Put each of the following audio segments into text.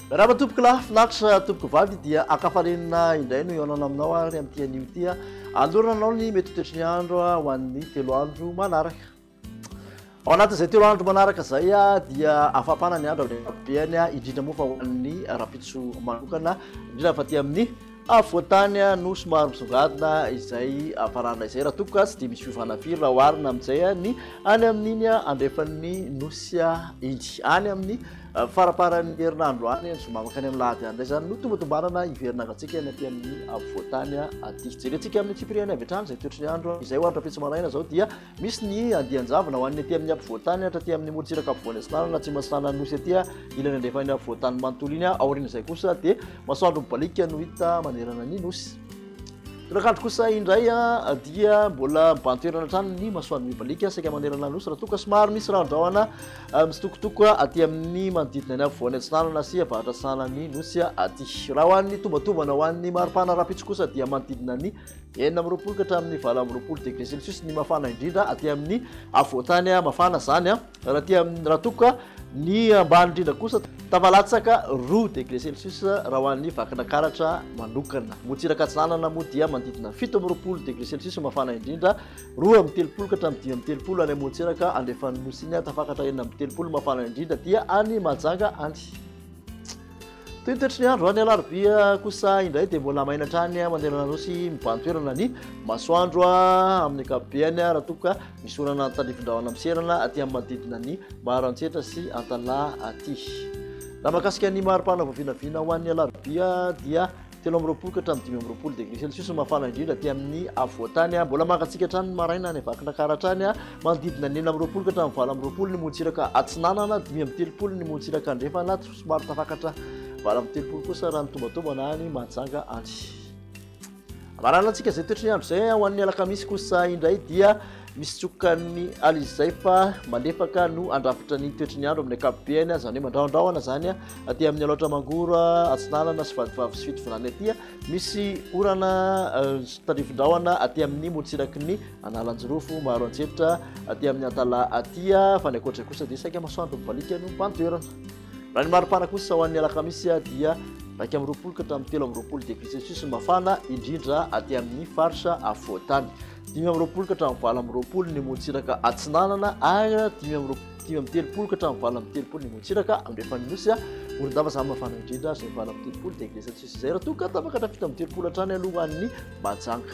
Rama tompoko lahy finatra tompoko vavy dia akafarenina indray no ihaonana aminao ary amin'ity anio ity alorana anao ny mety toetry ny andro ho an'ny telo andro manaraka Ao anatin'izay telo andro manaraka izay dia afapana ny andro amin'ny ankapobeny, indrindra moa fa ho an'ny rahampitso manokana, indrindra fa aty amin'ny afovoan-tany no somary misongadina izay hafanana izay, raha toa ka tsy dia misy fiovana firy raha oharina amin'izay ny any amin'iny andrefan'ny nosy iny. Any amin'ny faramparan'ny herinandro any, ny zoma mankany amin'ny lahady any indray izany no tombatombanana hiverina angatsiaka ny aty amin'ny afovoan-tany aty. Jerentsika amin'ny fipiriany avy hatrany izay toetry ny andro izay ho any rahampitso maraina izao dia Misy ny andian-javona ho an'ny aty amin'ny ampovoan-tany hatra aty amin'ny morontsiraka ampovoany atsinanana atsimo atsinanan'ny nosy aty ilany andrefan'ny ampovoan-tany manontolo iny aorian'izay kosa dia masoandro mibalika no hita manerana ny nosy torakandro kosa indray dia mbola mibantoerana hatrany ny masoandro mibalika saika manerana ny nosy raha toa ka somary misy rahandrahona misitokotoko aty amin'ny manodidina ny ampovoany atsinanana sy avaratra atsinanan'ny nosy aty raha ho an'ny tombatovana ho an'ny maripana rahampitso kosa dia manodidina ny Enina amby roapolo ka hatramin'ny valo amby roapolo degré celsius ny mafana indrindra aty amin'ny afovoan-tany mafana izany an. Raha aty amin'ny raha tokoka ny ambany indrindra kosa tafalatsaka roa degré celsius raha ho an'ny Vakinakaratra manokana. Motsiraka Atsinanana moa dia manodidina fito amby roapolo degré celsius mafana indrindra, roa amby telopolo ka hatramin'ny dimy amby telopolo any Motsiraka andrefan'ny Nosy iny an. Tafakatra enina amby telopolo mafana indrindra aty any Mahajanga any. Toy ny toetry ny andro, ny alarobia kosa indray dia mbola maina hatrany mandeha an'Anosy mibahan-toerana ny masoandro amin'ny ankapobeny raha toa ka misy orana tandrifindrahona miserana aty amin'ny manodidina ny Maharantsetra sy Antalaha aty. Raha mahakasika ny mari-pana vao vinavina ho an'ny alarobia dia telo amby roapolo ka hatramin'ny dimy amby roapolo degré celsius no mafana indrindra aty amin'ny afovoantany. Mbola mangatsiaka hatrany ny maraina any Vakinankaratra hatrany, manodidina ny enina amby roapolo ka hatramin'ny valo amby roapolo ny morontsiraka atsinanana, dimy amby telopolo ny morontsiraka andrefana, Somary tafakatra valo amby telopolo kosa raha ny tombatombana any Mahajanga any. Marana antsika izay toetry ny andro izay ho an'ny alakamisy kosa indray dia misy tsokan'ny aly izay fa malefaka no andrafitra ny toetry ny andro amin'ny akapobeany izany hoe mandraondraona izany aty amin'ny alaotra mangoro atsinanana sy vadivavy sy fito volana aty misy orana euh, tarifindraona aty amin'ny motsiraky ny analanjirofo maro antsehitra aty amin'ny antala aty fa ny ankoatra kosa dia saika masoandro mibalika no mpantoerana Raha ny maripana kosa ho an'ny alakamisy dia iraika amby roapolo ka hatramin'ny telo amby roapolo degré celsius ny mafana indrindra aty amin'ny faritra afovoan-tany. Dimy amby roapolo ka hatramin'ny valo amby roapolo ny motsiraka atsinanana ary dimy amby roapolo dimy amby telopolo ka hatramin'ny valo amby telopolo ny motsiraka andrefan'ny nosy morondava izany mafana indrindra izay valo amby telopolo degré celsius izay raha toa ka tapaka hatramin'ny fito amby telopolo hatrany alohan'ny majanga.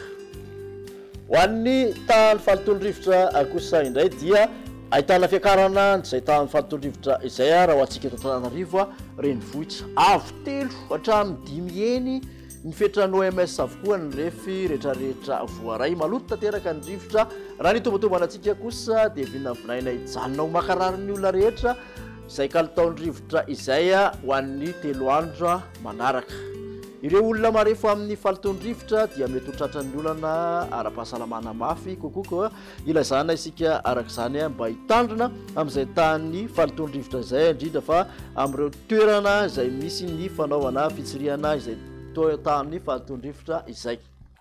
Ho an'ny tahan'ny fahalotoan'ny rivotra kosa indray dia ahitana fiakarana izay tahan'ny fahalotoan'ny rivotra izay raha ho antsika eto Antananarivo renivohitra. Avo telo hatramin'ny dimy heny ny fetran'ny OMS avokoa ny refy rehetrarehetra voaray. Maloto tanteraka ny rivotra. Raha ny itombantombanantsika kosa dia vinavinaina hijanona ho mankarary ny olona rehetra. Izay kalitaon'ny rivotra izay ho an'ny telo andro manaraka. Ireo olona marefo amin'ny fahalotoan'ny rivotra dia mety ho tratran'ny olana ara-pahasalamana mafy kokoa koa ilazana isika araka izany mba hitandrina amin'izay tahan'ny fahalotoan'ny rivotra izay indrindra fa amin'ireo toerana izay misy ny fanaovana fitsirihana izay tahan'ny fahalotoan'ny rivotra izay.